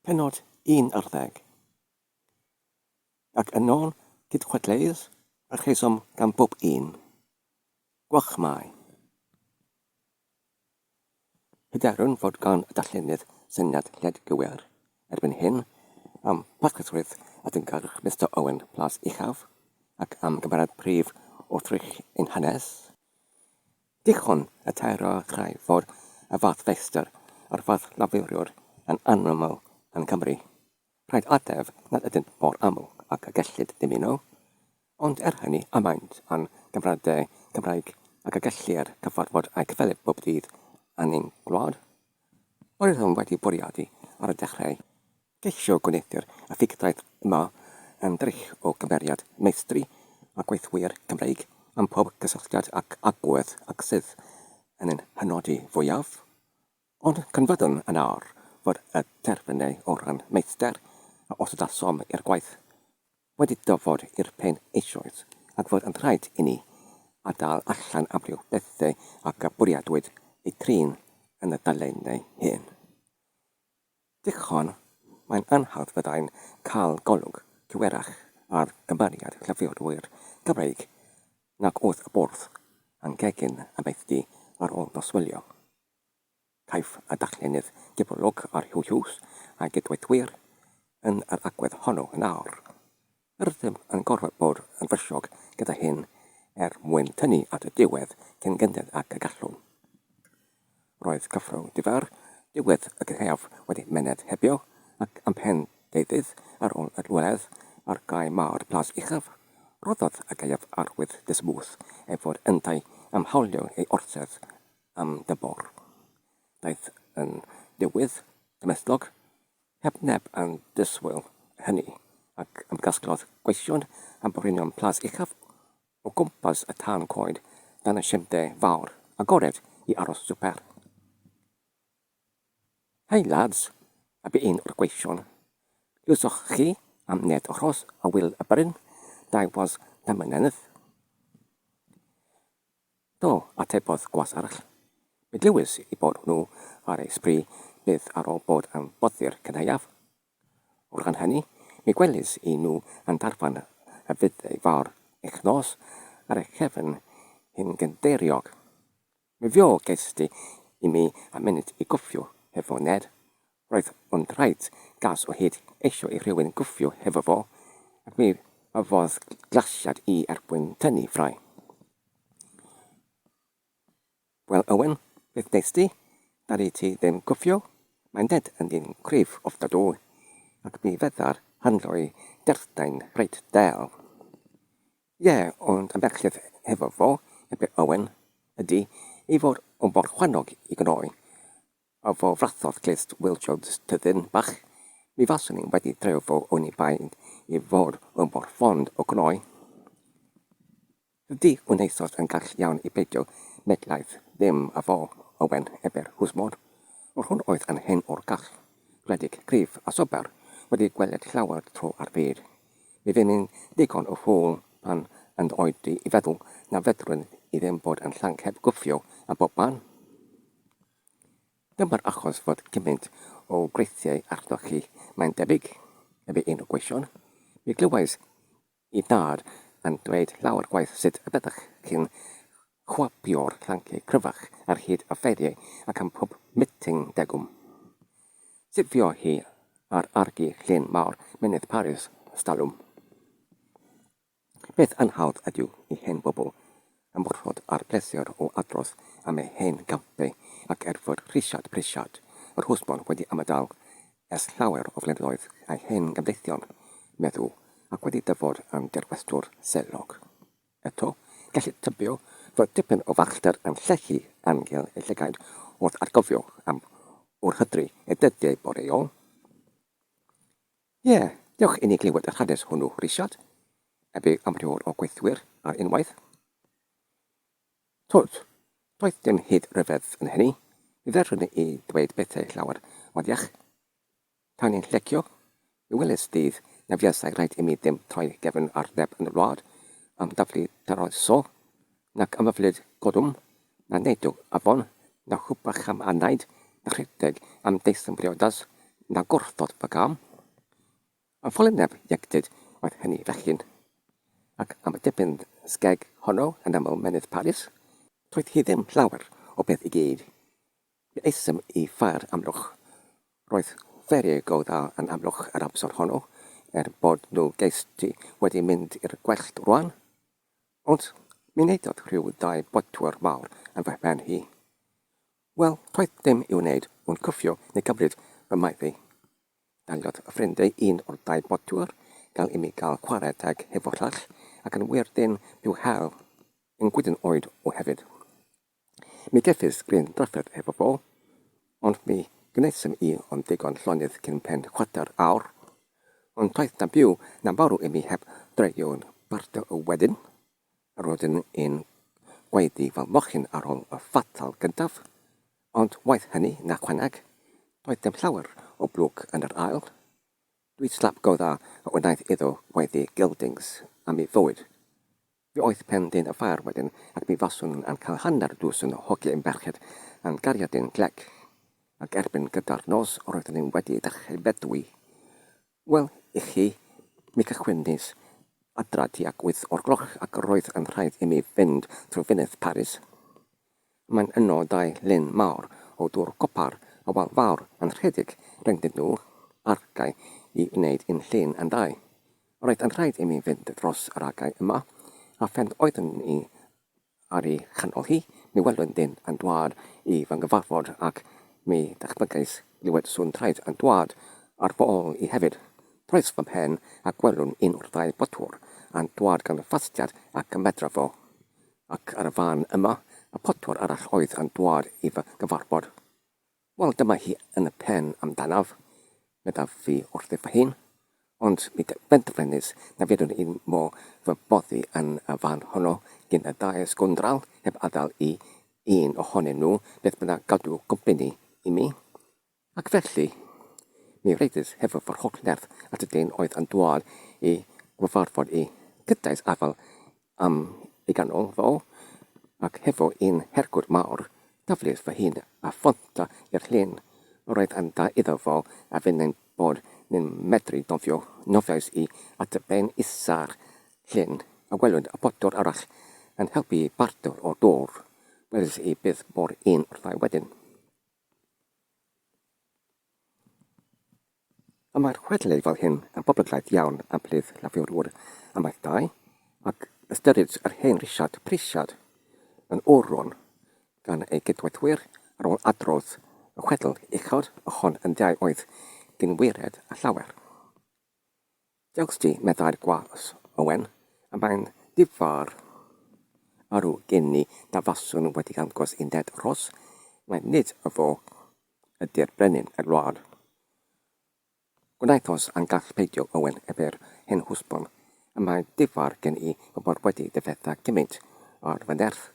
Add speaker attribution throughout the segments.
Speaker 1: Pennod un ar ddeg. Ac yn ôl cydchwedleuydd y rheswm gan bob un, gwelch mai, Hyderwn fod gan y darllenydd syniad lled gywir erbyn hyn am barchusrwydd a dyngarwch Mister Owen Plas Uchaf ac am gymeriad prif wrthrych ein hanes, Dichon y taero a chraith fod y fath feistr a'r fath lafuriwr yn anaml yn Cymru. Rhaid ateb nad ydynt mor aml ag y gellid dymuno, ond er hynny y maent â'n gymradau Cymraeg ac y gellir cyfarfod a'u cyfelyb bob dydd yn ein gwlad. Oeddwn wedi bwriadu ar y dechrau. Ceisio gwneuthur y ffugdraeth yma yn drych o gymeriad meistri a gweithwyr Cymreig am pob cysylltiad ac agwedd ag sydd yn ein hynodi fwyaf. Ond cynfyddwn yn awr fod y terfynau o ran meistr, a osodasom i'r gwaith, wedi dyfod i'r pen eisoes ac fod yn rhaid inni adael allan amryw bethau ac y bwriadwyd eu trin yn y dulliau hyn. Dichon, mae'n anhawdd fyddai'n cael golwg cywerach ar gymeriad llyfrwr Cymreig nag oedd y bwrdd a'n gegin amaethdy ar ôl noswylio. Caiff y darllenydd gyflog ar Huw Hughes a'i gydweithwyr yn yr agwedd honno yn awr. Rydym yn gorfod bod yn fysiog gyda hyn er mwyn tynnu at y diwedd cyn gynted ag y gallwn. Roedd cyffro di-far diwedd y gaeaf wedi myned hebio ac am pen deuddydd ar ôl y llweledd ar gae mawr Plas Uchaf, rhoddodd y gaeaf arwydd dismwth ei fod yntau am hawlio ei orsedd am dymor. Daeth yn dywydd gymhlethdlog Heb neb yn disgwyl hynny, ac ymgasglodd gweision a borinion plas uchaf o gwmpas y tân coed dan y siende fawr agored i aros swper. Hei, lads, a bu un o'r gweision, lluosoch chi am ned o Rhos a Wil y Bryn, dau was Damynennydd? Do, atebodd gwas arall. Mi glywes i bod nhw ar eu sbri byth ar ôl bod am boddi'r cynhaeaf. O ran hynny, mi gwelis i nhw yn darfan y fydd ei fawr eich nos ar eich cefn chi'n gynddeiriog. Mi fuo gest ti i mi a munud i gwffio hefo Ned, Roedd o'n draed gas o hyd eisiau i rhywun gwffio hefo fo, ac mi gafodd glasiad i erbyn tynnu ffrae. Wel Owen, beth nes di? Dali ti ddim gwffio? Mae Ned yn ddyn cryf ofnadwy, ac mi feddar handdo'i derthau'n reit del. Ie, ond y merched hefo fo, ebe Owen, ydi ei fod o mor chwannog i gnoi. A fo frathodd clust Wil Jones tyddyn bach, mi faswn i wedi treo fo oni bai i fod o mor fond o gnoi. Dydi Wnaethos yn gall iawn i beidio medlaeth ddim a fo, Owen, ebe'r hwsmod. Yr hwn oedd yn hen o'r gall, gwledig, cryf a sobor, wedi gweled llawer tro ar fyd. Mi fu'n i'n ddigon o ffŵl pan yn oed i i feddwl na fedrwn i ddim bod yn llanc heb gwffio a bob man. Dyma'r achos fod cymaint o weithiau arnoch chi, mae'n debyg, efe un o gweision. Mi glywais i dad yn dweud lawer gwaith sut y byddech chi'n chwapio'r llanciau cryfach ar hyd y ffeiriau ac am pob miting degwm. Sut fuodd hi ar argi llun mawr mynydd Paris, 'stalwm. Beth yn hawdd ydyw i hen bobl ymwrthod â'r pleser o adrodd am ei hen gampe ac er fod Rhisiart Prisiart yr Hwsmon wedi ymadael ers llawer o flynyddoedd â'i hen gamddeithion meddw ac wedi dyfod yn dirwestwr selog eto, gellid tybio fod dipyn o farchder yn llechu angel ei llygaid wrth atgofio am wrhydri ei dyddiau boreol. Ie, dewch i ni glywed yr hanes hwnnw, Richard, a bu amrywiol o gweithwyr ar unwaith. Tut, doedd dim hyd ryfedd yn hynny, mi ddedrwn i ddweud bethau llawer modiach. Tan ni'n llecio, mi weles dydd na fuasai raid i mi ddim troi gefn ar neb yn y wlad am daflu taroeso, Nac amyflyd gollwng, na neidw afon, na chwbach am anaid, na rhedeg am daethum briodas, na gwrthod fy gam. Am folineb ieuenctid oedd hynny fechgyn, ac am y dipyn sgeg honno yn aml menydd Paris, doedd hi ddim llawer o beth i gyd. Mi aethum i Fair Amlwch. Roedd fferi go dda yn Amlwch yr amser honno, er bod nhw gest ti wedi mynd i'r gwellt rwan. Ond myneddodd rhyw ddau bodwr mawr yn fy mhen hi. Wel, toedd dim i'w wneud ond cwffio neu gymryd fy maeth i. Daliodd y ffrindey un o'r dau bodwr fel i mi gael chwarae teg hefo Rhach, ac yn wir ddim i'w hel yn gwydn oed o hefyd. Mi gefis gryn drafferth efo fo, ond mi gneusem i ond digon llonydd cyn pen chwarter awr. Ond toedd na byw na farw i mi heb dreio'n barto o wedyn, a roeddwn i'n gwaeddu fy mochyn ar ôl y fatal gyntaf, ond waeth hynny na chwanag, doedd dim llawer o blwc yn yr ail. Dwi slap go dda a wnaeth iddo waeddu geldings am i fywyd. Fe oedd plentyn y ffair wedyn ac mi faswn nhw yn cael hanner dwsin o hogyn ferched yn gariadin glec, ac erbyn gyda'r nos roedden nhw wedi dechrau bedwi. Wel, i chi, mi cychwynais adra tuag wyth o'r gloch ac roedd yn rhaid i mi fynd trwy fyned Paris. Mae'n yno dau lyn mawr o dwr copar a wal fawr yn rhedeg rhyngddyn nhw, argae i wneud un llun yn ddau. Roedd yn rhaid imi fynd dros yr argae yma, a phen oeddwn i ar ei chanol hi, mi welwn dyn yn dwad i fy nghyfarfod ac mi ddychmygais glywed sŵn traed yn dwad ar fy ol i hefyd. Troes fy mhen a gwelwn un o'r ddau botwr yn dwad gan fastiad ac ymedra fo. Ac ar y fan yma, y potwr arall oedd yn dwad i fy nghyfarfod. Wel, dyma hi yn y pen amdanaf, meddaf fi wrthi fy hun, ond mi benderfenis na fyddwn i'n mo fy boddi yn y fan honno gin y ddau sgwndral heb adael i un ohonyn nhw beth bynnag gadw cwmpini i mi. Ac felly, mi rydys hefo fy holl nerth at y dyn oedd yn dwad i nghyfarfod i, cydais afael am ei ganol fo, ac hefo un hergwd mawr, taflys fy hun a phonta i'r llyn. Yr oedd yn dda iddo fo a finnau'n bod ni'n medru nofio, nofiais i at y ben isa'r llyn, a welwyd y potwr arall yn helpu i bartio'r dwr. Weles i byth bo'r un wrthai wedyn. Am mae'r chwedlau fel hyn yn boblogaeth iawn am Blydd Lafur Ŵr amaeth dau, ac ystyrid yr hen Risiard Prisiad yn oron gan ei gydweithwyr ar ôl adrodd y chwedl uchod, y hon yn ddiau oedd dyn wired a llawer. Diolch ti, meddai'r gwas, Owen, a mae'n ddifa'r arw gen i na faswn wedi dangos i Ned Ross mai nid y fo ydi'r brenin y wlad. Gwnaethos a'm gall peidio, Owen, ef yr hen hwsbon, a mae'n ddifa'r gen i fy mod wedi difetha cymint ar fy nerth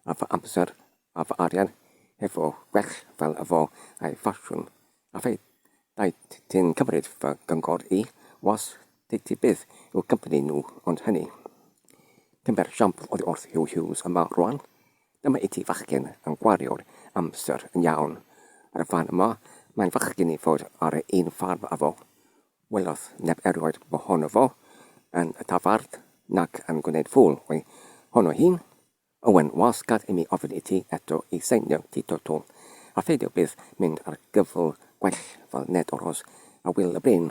Speaker 1: a fy amser Af arian hefo gwell fel y fo a'i ffasiwn. A fy rhaid ti'n cymryd fy gyngor i, was Titi byth i'w cympni nhw ond hynny. Cymber siampl oddi wrth Huw Hughes yma rwan. Dyma i ti fachgen yn gwario'r amser yn iawn ar y fan yma, mae'n fachgen i fod ar yr un ffarm â fo. Welodd neb erioed mohono fo yn y tafarn nac yn gwneud ffŵl o'i hono hi'n. Owen, Oes, gad i mi ofyn i ti eto i seinio ti to to, a pheidio byth mynd ar gyfl gwell fel Ned Oros a Wil y Bryn.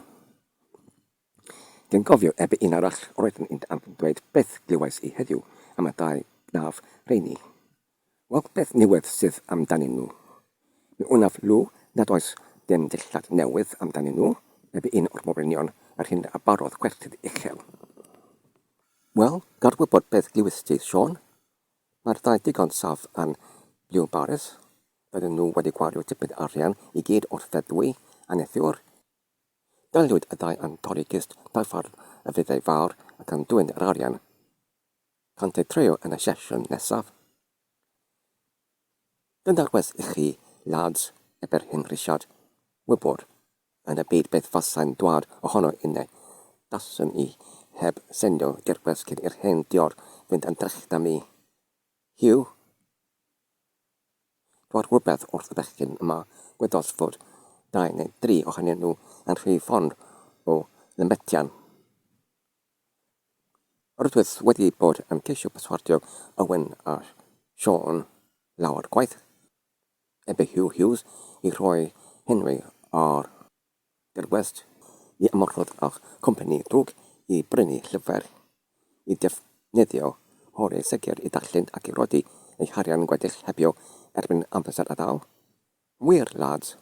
Speaker 1: Dwi'n cofio ebe un arall roeddwn i'n anfon dweud beth glywais i heddiw am y dau braf rheini. Wel, beth niwed sydd amdanyn nhw? Mi wnaf lw nad oes dim dillad newydd amdanyn nhw, ebe un o'r morwynion yr hyn a barodd gwerthydd uchel. Wel, gad wybod beth glywist ti, Siôn. Mae'r ddau ddigon saff yn Blue Barrys. Bydden nhw wedi gwario tipyn arian i gyd o'r feddwi a neithiwr. Daliwyd y ddau yn torri gist daffarn y Frytheu Fawr ac yn dwyn yr arian. Cânt eu treio yn y sesiwn nesaf. Yn daclus i chi, lads, ebe'r hen grisiad, wybod, yn y byd beth fasai'n dwad ohono inne, daswn i heb sendo dirgles cyn i'r hen diod fynd yn drech 'da mi. Hugh? Dwad rywbeth wrth y bechgyn yma, gweddos fod dau neu dri ohonyn nhw yn rhy fond o lymetian. Roeddwyd wedi bod yn ceisio perswadio Owen a Siân lawer gwaith, heb i Huw Hughes i roi Henry ar gerddwest i ymgorffod â chwmni drwg i brynu llyfr i ddefnyddio holi segur i ddarllen ac i roi ei harian wedi'i heibio erbyn amser atal. Mwyr lads.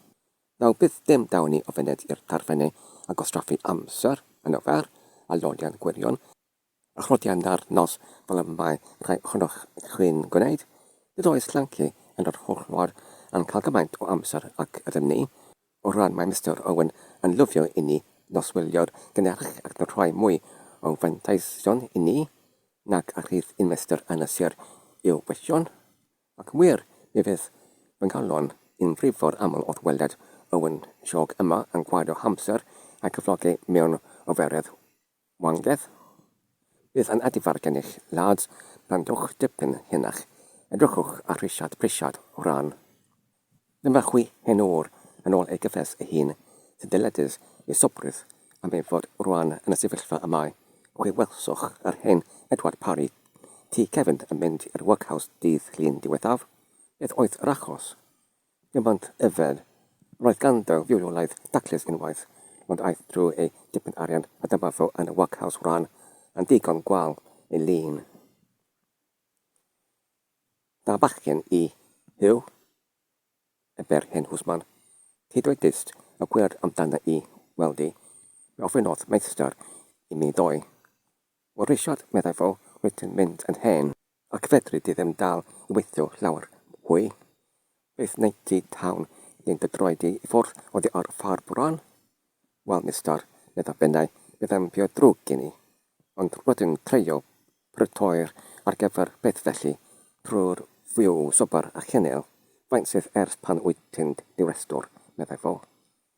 Speaker 1: Naw byth dim daw ni o fyned i'r tarfenne a gwastraffu amser yn ofer a lolian gwirion a chlodian da'r nos fel y mae rhai ohonoch chi'n gwneud. Nid oes Llanci yn yr holl ward yn cael gymaint o amser ac ydym ni. O ran mae Mister Owen yn lyfio inni noswylio'r gynnyrch ac yn rhoi mwy o fanteision inni nag a rhydd un mester yn y sir i'w gwylltion. Ac yn wir, mi fydd fy nghalon i'n frifo'r aml wrth weled Owen Siôg yma yn gwario hamser a'i cyflogi mewn oferedd wangedd. Bydd yn adifar gennych, lads, pan dowch dipyn henach, edrychwch ar Rhisiart Prisiart o ran. Dyma chwi hen ŵr, yn ôl ei gyffes ei hun, sy'n dyledus ei sobrydd am ei fod rŵan yn y sefyllfa y mae, chwi welsoch yr hen Edward Parry, ti cefn, yn mynd i'r workhouse dydd Llun diwethaf? Beth oedd yr achos? Dim ond yfed. Roedd ganddo fiwrolaeth daclus unwaith, ond aeth drwy ei dipyn arian a dyma fo yn y workhouse rŵan, yn ddigon gwal ei lun. Da bachgen i Huw, y bêr hen hwsman. Hyd oed dyst y gwyrdd amdana i weld di, fe ofynnodd meistr i mi ddoi. Wel Rishard, meddai fo, wyt ti'n mynd yn hen, ac fedri di ddim dal i weithio llawer hwy. Beth wnei di tawn ni'n dy droi di i ffwrdd oddi ar y ffarm rwan? Wel, Mistar, medda Bennau, byddai'n byw'n ddrwg gen i, ond rydw i'n treulio Prydain ar gyfer beth felly? Pryd fyw swper a chynil? Faint sydd ers pan wyt ti'n ddiweddglo? meddai fo.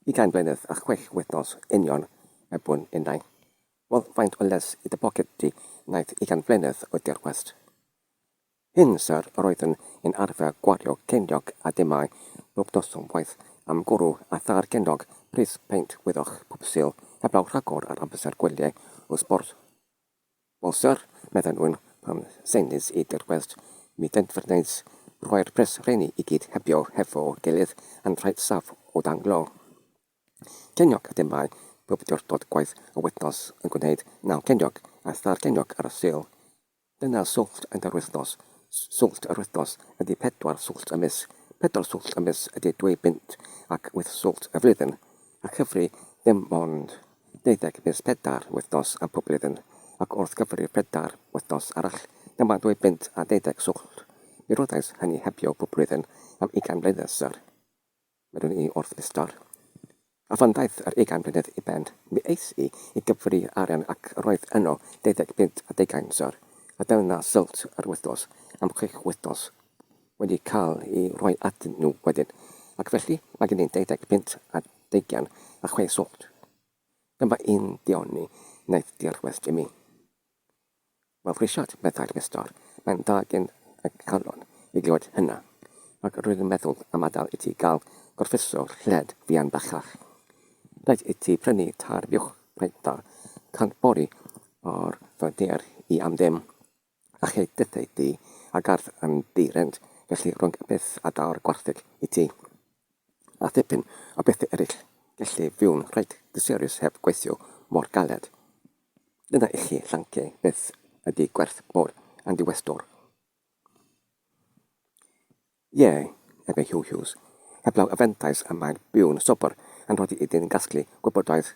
Speaker 1: Ugain mlynedd a chwech wythnos union, er bu'n unnain. Wel, faint o les i dy boced di wnaeth ugain flynedd o dirwest? Hyn, syr, yr oeddwn i'n arfer gwario ceiniog a dimmau bob noson waeth am gwrw a thair ceiniog pris peint wyddoch pob Sul heblaw rhagor ar amser gwyliau o sbort. Amser, medden nhw, pan seinais i dirwest, mi denfrnais rhoi'r pres rheiny i gyd hebio hefo gilydd yn rhaid saff o danglo. Ceiniog a demau, pob diwrnod gwaith a wythnos yn gwneud naw ceiniog a thair ceiniog ar y Sul. Dyna swllt yn yr wythnos, swllt yr wythnos ydy pedwar swllt y mis, pedwar swllt y mis ydy dwy bunt ac wyth swllt y flwyddyn, a chyfri ddim ond. deuddeg mis pedair wythnos am pob blwyddyn, ac wrth gyfrif pedair wythnos arall, dyma dwy bunt a deuddeg swllt, mi roddais hynny hebio pob blwyddyn am ugain mlynedd, syr. Medwn i wrth Mistar. A phan ddaeth yr ugain mlynedd i ben, mi es i i gyfri arian ac yr oedd yno deuddeg bunt a deugain, syr, a dyna swllt yr wythnos am chwech wythnos. wedi cael ei roi atyn nhw wedyn, ac felly mae gen i deuddeg punt a deugain a chwe sownd. Dyma un dioni wnaeth dirwest i mi. Wel, Rhisiart, meddai'r Mistar, mae'n dda gen y calon i glywed hynna, ac rwy'n meddwl am adael i ti gael gorffwyso lled fuan bellach. Rhaid i ti prynu târ fuwch reit dda, cant bori o'r fy nhear i am ddim. A chi ddaethai di a gardd yn ddi-rent, felly rhwng y peth a daw'r gwartheg i ti, a thipyn o bethau eraill, gelli fyw'n reit dysorius heb gweithio mor galed. Dyna i chi llanci beth ydi gwerth bod yn ddiweddglo. Ie, efo Huw Hughes, heblaw y fantais y mae'n byw'n sobor yn rhoddi iddi'n gasglu gwybodaeth,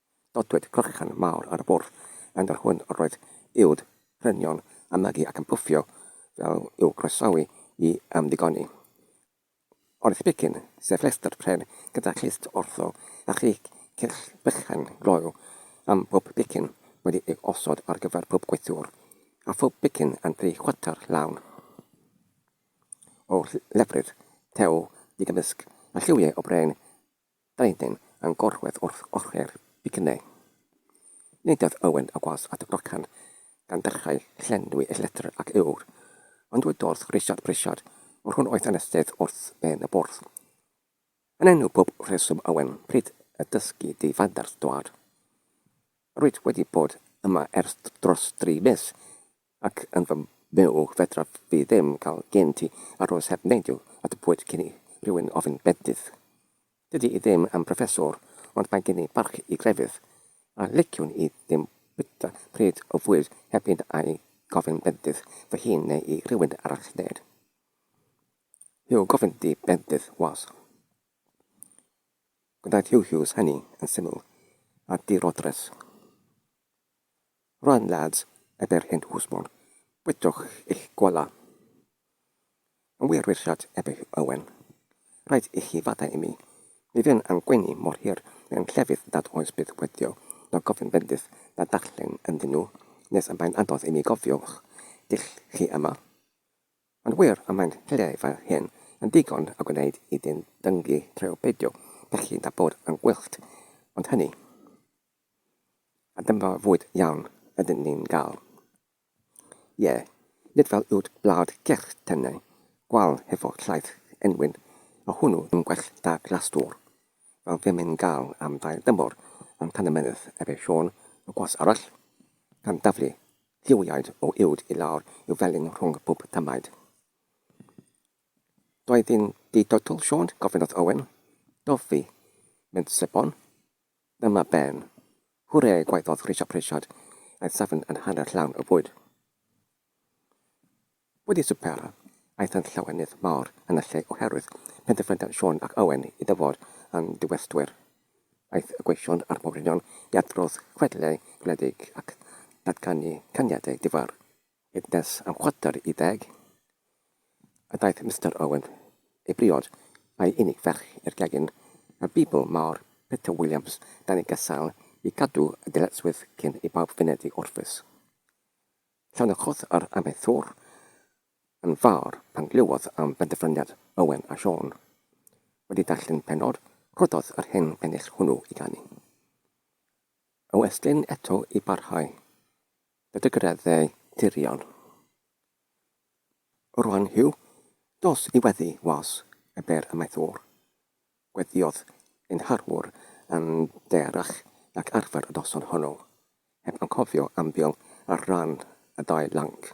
Speaker 1: Nodwyd clychan mawr ar y bwrdd, gan yr hwn yr oedd uwd prynion a magu ac yn pwffio fel i'w groesawu i ymddigoni. Ond Spicyn, sef llestr pren gyda chlust wrtho, a thri cell bychan gloyw am bob picyn wedi ei osod ar gyfer pob gweithiwr, a phob picyn yn dri chwarter lawn o lefrith tew digymysg â lliwiau o bren Brenin yn gorwedd wrth ochr Bicne. Nid oedd Owen y was at Wrecsam gan ddechrau llenwi ei llethr ag ŵyr, ond dweud wrth Richard Prichard fod hwn oedd anestydd wrth ben y bwrdd. Yn enw pob rheswm Owen, pryd y dysgu di fadarth dwad? Rwyt wedi bod yma ers dros dri mis, Ac yn fy myw fedraf fi ddim cael gen ti aros heb neidio at y pwyd cyn i rywun ofyn bendith. Dydy i ddim am broffesor ond mae gen i barch i grefydd, a liciwn i ddim bwyta pryd o fwyd heb fynd a'i gofyn bendith fy hun neu i rywun arall ned Huw gofyn di bendith was. Gwnaeth Huw Hughes hynny yn syml a dirodres. Run lads, ebe'r hen hwsmon, bwytwch eich golau. Yn wir Richard, ebe Owen, rhaid ichi fadau i mi, mi fu'n a'n gwenu mor hir mewn llefydd nad oes byth wedio na gofyn bendith na darllen ynddyn nhw nes y mae'n anodd i mi gofio'ch dull chi yma. Yn wir, y mae'n llefydd fel hyn yn ddigon a gwneud i ddyn dyngu treo peidio pechu na bod yn gwyllt ond hynny. A dyma fwyd iawn ydyn ni'n gael. Ie, nid fel uwd blawd gyrch tenau gwal hefo llaeth enwyn a hwnnw yn gwell da glastwr, fel fem yn gael am ddail dymor yn Tanymynedd efo Siôn y Gwas Arall, gan daflu lliwiaid o uwd i lawr i'w felin rhwng pob tamaid. Doedd hi'n ddi-doetl, Siôn? gofynnodd Owen. Doedd fi, meddai Sebon. Dyma Ben. Hwre! gwaeddodd Richard Pritchard, aeth safon yn hanner llawn o fwyd. Wedi swper, aethant llawenydd mawr yn y lle oherwydd penderfyniad Siôn ac Owen i dyfod yn ddiweddgwyr. Aeth y gweision a'r mawrion i adrodd chwedlau gwledig ac datganu caniadau difar. Hyd nes am chwarter i deg, a daeth Mister Owen i briod a'i unig ferch i'r gegin, a Beibl mawr Peter Williams dan ei gasail i gadw y dyletswydd cyn i bawb fynedi orffwys. Llonychodd yr amaethwr yn fawr pan glywodd am benderfyniad Owen a Siôn. Wedi darllen pennod, rhoddodd yr hen bennill hwnnw i ganu. O Estlin eto i barhau. Bydd y graddau dirion o'r rhan hwy dos i weddi was y byr amaethwr. Gweddiodd ein harwr yn ddearach nag arfer y noson honno, heb anghofio ambil ar ran y ddau lanc.